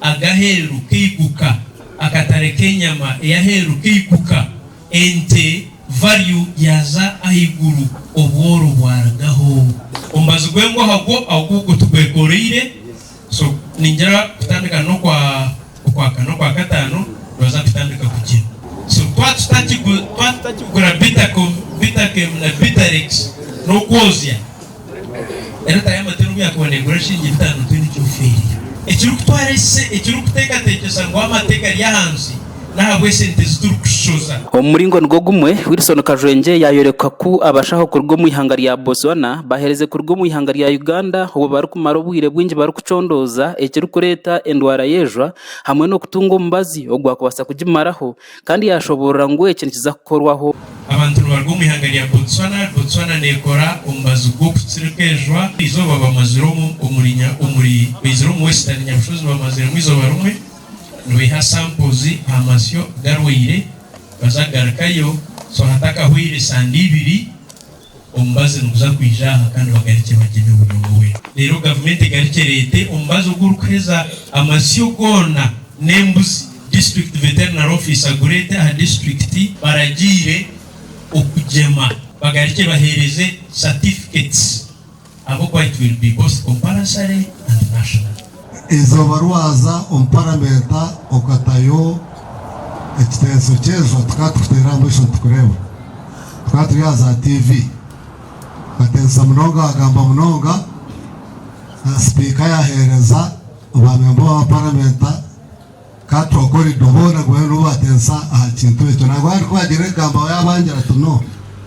Ag'aheeru k'eiguka, akatare k'enyama ey'aheeru k'eiguka, ente, value, yaaza ahaiguru, obworo bwarugaho. Omubazi gw'engwaha gwo ogu gutugwekoroire, so ningira kutandika n'okwa okwa kana, okwa kataano nibaza kutandika kugye. So twaba tutakigura, twaba tutakigura Bitacom, Bitacem na Bitarex n'okwozya. Erata y'amate n'obu yaakuba neegura enshiringi bitaano tihaine eki ofiirire. Ekirikutwara ise ekirikuteekateekyesa ngu amate gari ahansi n'ahabw'esente ezi turikushoza. Omu muringo nigwo gumwe, Wilson Kajwengye yaayoreka ku abashaho kuruga omu ihanga rya Botswana baheereze kuruga omu ihanga rya Uganda obu barikumara obwire bwingi barikucondooza ekirikureeta endwara y'ejwa hamwe n'okutunga omubazi ogwakubaasa kugimaraho Kandi yaashoboorora ngu eki nikiza kukorwaho. Abantu nibaruga omu ihanga rya Botswana. Botswana neekora omubazi gw'okutsirika enjura eizooba bamazire omu omuri nya omuri baizire omu Western Nyabushozi bamaziremu eizooba rimwe nibaiha samples aha masyo garwaire baza kugarukayo so hatakahweire sande ibiri. Omubazi niguza kwija aha kandi bagarikye bagye eby'obunyonga we. Reero gavumenti egarikye ereete omubazi ogu orikuheza amasyo goona n'embuzi, District Veterinary Office agureete aha disiturikiti. Baragiire okugyema bagarikye baheereze certificates. Ahabw'okuba it will be both compulsory and national. Eizooba rwaza omu paramenta okatayo ekitenso ky'eizooba tukaba tukuteera aha maisho nitukureeba. Tukaba turi aha za TV. Okatensesa munonga wagamba munonga. Sipiika yaheereza ba memba ba paramenta. Ka twakora ebyo boona bwanyima n'obu baatensa aha kintu ekyo, nangwa hariho kubagira ebigambo abaabangira ati, No!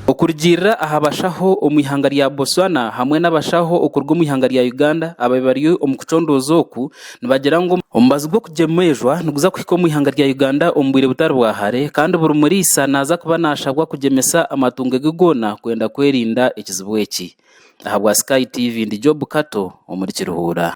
Okurugiirira aha bashaho omu ihanga rya Botswana hamwe n'abashaho okuruga omu ihanga rya Uganda abaabaire bari omu kucondooza oku, nibagira ngu omubazi gw'okugyemezwa niguza kuhika omu ihanga rya Uganda omu bwire butari bwa hare kandi buri muriisa naaza kuba naashabwa kugyemesa amatungo ge goona kwenda kwerinda ekizibu eki. Ahabwa Sky TV ndi Job Kato omuri Kiruhura.